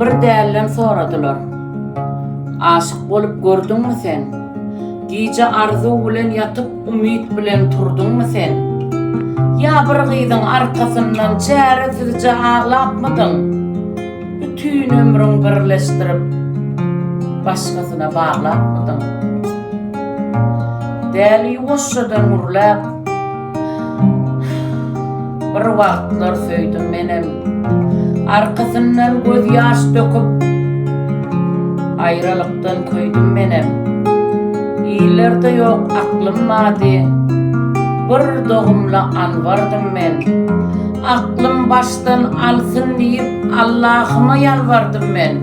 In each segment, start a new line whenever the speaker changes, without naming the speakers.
Bir dälden soradylar. Aşyk bolup gördüňmi sen? Gije arzuw bilen ýatyp umyt bilen turduňmy sen? Ýa bir gyzyň arkasyndan çäresizje aglapmydyň? Bütin ömrüň birleşdirip başgasyna baglapmydyň? Däli ýuwaşjadan gürläp. Bir wagtlar söýdüm menem Arkasyndan göz ýaş döküp Aýralykdan köýdüm menem Illerde ýok aklym mady Bir dogumla anbardym men Aklym başdan alsyn diýip Allahyma ýalbardym men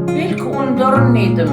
Belki undaryn diýdim